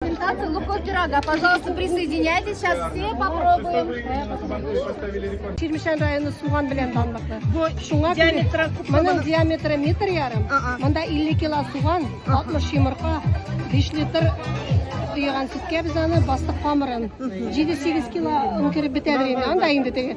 Презентация луков пирога. Пожалуйста, присоединяйтесь. Сейчас все попробуем. Чирмешән районы суган белән данлыклы. Бу шуңа диаметры моның диаметры метр ярым. Монда 50 кило суган, 60 йомырка, 5 литр куйган сөткә без аны бастык камырын. 7-8 кило үңкереп бетә бирә. Анда инде теге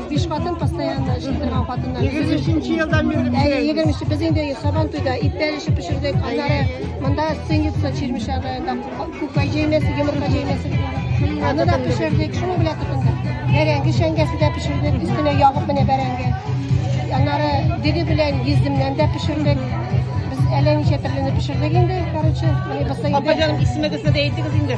биш хатын постоянно эшли торган хатыннар. Егерме өченче елдан бирле бизәбез. Әйе, егерме өченче. Без инде сабан туйда ит бәреше пешердек. Аннары монда сыница чирмешә районда күкәй җәймәсе, йомырка җәймәсе. Аны да пешердек, шуның белән тотындык. Бәрәңге шәңгәсе дә пешердек, өстенә ягып менә бәрәңге. Аннары диге белән йөздемнән дә пешердек. Без әллә ничә төрле пешердек инде, короче. Апаҗаным, исемегезне дә әйтегез инде.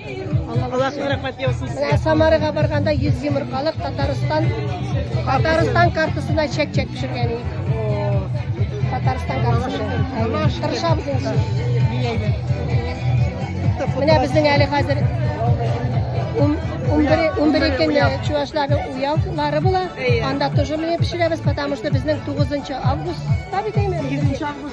Аллаһның рәхмәте яусын сезгә. Менә Самарага барганда 100 йомыркалык Татарстан Татарстан картасына чәк-чәк пешергән идек. Татарстан картасы. Тырышабыз инде. Менә безнең әле хәзер 11 көнне чувашларның уявлары була. Анда тоже менә пешерәбез, потому что безнең 9 августта бит әйме? 8 август